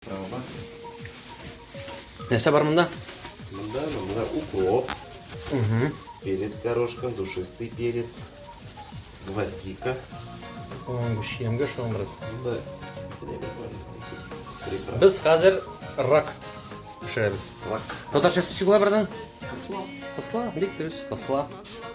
Травма. Нәрсә бар монда? Монда, монда укроп. Угу. Перец горошком, душистый перец, гвоздика. Ой, шиемгә шуның брат. Монда Без хәзер рак пешерәбез. Рак. Татарчасы чыгыла бердән? Кысла. Кысла, бик дөрес, кысла.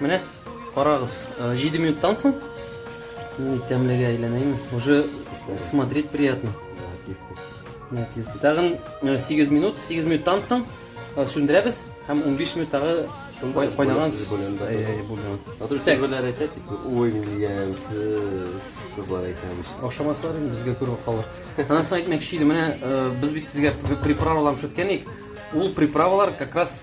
Менә карагыз, 7 э, минуттан соң мин тәмлегә әйләнәйме? Уже смотреть приятно. Нәтиҗәсе. Тагын 8 э, минут, 8 минуттан соң э, сүндерәбез һәм 15 минут тагы кайнаган бульон. Хәзер тәгәрләр әйтә, тип, ой, милиям, кызлар әйтә бит. Ошамаслар инде безгә күреп калыр. Аннан соң әйтмәкче идем, менә без бит сезгә приправалар шүткән идек. Ул приправалар как раз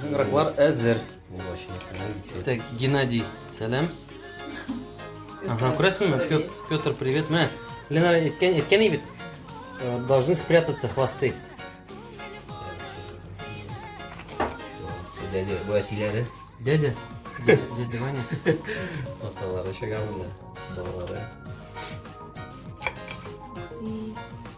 Сыграклар әзер. Так, Геннадий, сәлам. Ага, күрәсеңме? Пет- Петр, привет. Менә Ленара әйткән әйткән ей бит. э, Должны спрятаться хвосты. Дядя, бу әтиләре, Дядя, дядя, дядя Ваня. аталары чыга монда, балалары.